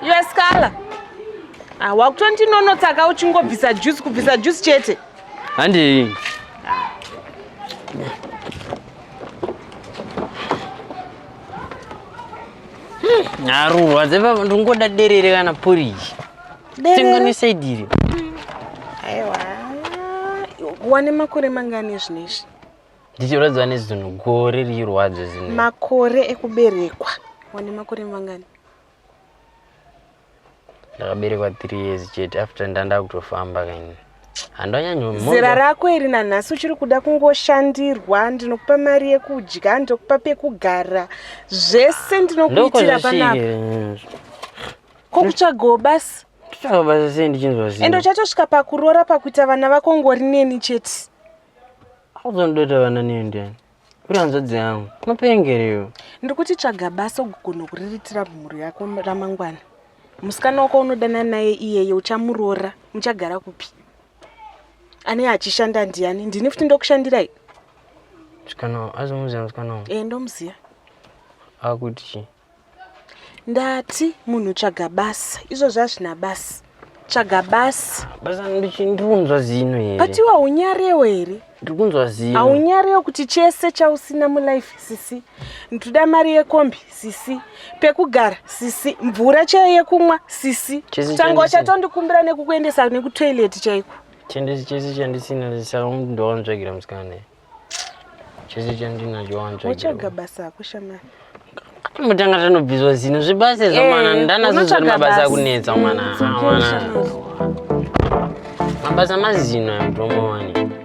yeskala ah, wakutondinonotsaka uchingobvisa juice kubvisa juice chete handi nharurwa dzepapa ndingoda derere kana poriji tenganisaidiri aiwa wane makore mangani ezvinezvi ndichirwadziwa nezunhu gore riirwadzo zino makore ekuberekwa wane makore mangani ndakaberekwa three years chete after ndanda kutofamba kaini handanyanyozera rako iri nanhasi uchiri kuda kungoshandirwa ndinokupa mari yekudya ndinokupa pekugara zvese ndinokuitira panapa ko kutsvagawo basi kutsvaga basi sei ndichinzwa zii ende uchatosvika pakuroora pakuita vana vako ngori neni chete Hauzondoita vana neyo ndiani? Uri hanzvadzi yangu. Unopengerewo. Ndiri kuti tsvaga basa ugogona kuriritira mhuri yako ramangwana. Musikana wako unodana naye iyeye uchamuroora muchagara kupi? Ane achishanda ndiani? Ndini futi ndokushandirai. Musikana azomuziva musikana wangu. Eh ndomuziva. Akuti chii? ndati munhu tsvaga basa izvozvo hazvina basa tsvaga basa basa ndikunzwa zino here but iwe haunyarewo here ndiri kunzwa zino haunyarewo kuti chese chausina mulife sisi ndikuda mari yekombi sisi pekugara sisi mvura chaiyo yekumwa sisi tanga uchatondikumbira nekukuendesa nekutoilet chaiko chendisi chese chandisina saka ndowanzvagira musikana chese chandinacho wanzwa uchaga basa ako shamani mutanga tanobviswa zino zvibasa izvo eh, mwana ndanazozvani mabasa akunetsa mwana mwana mabasa mazino amutomowani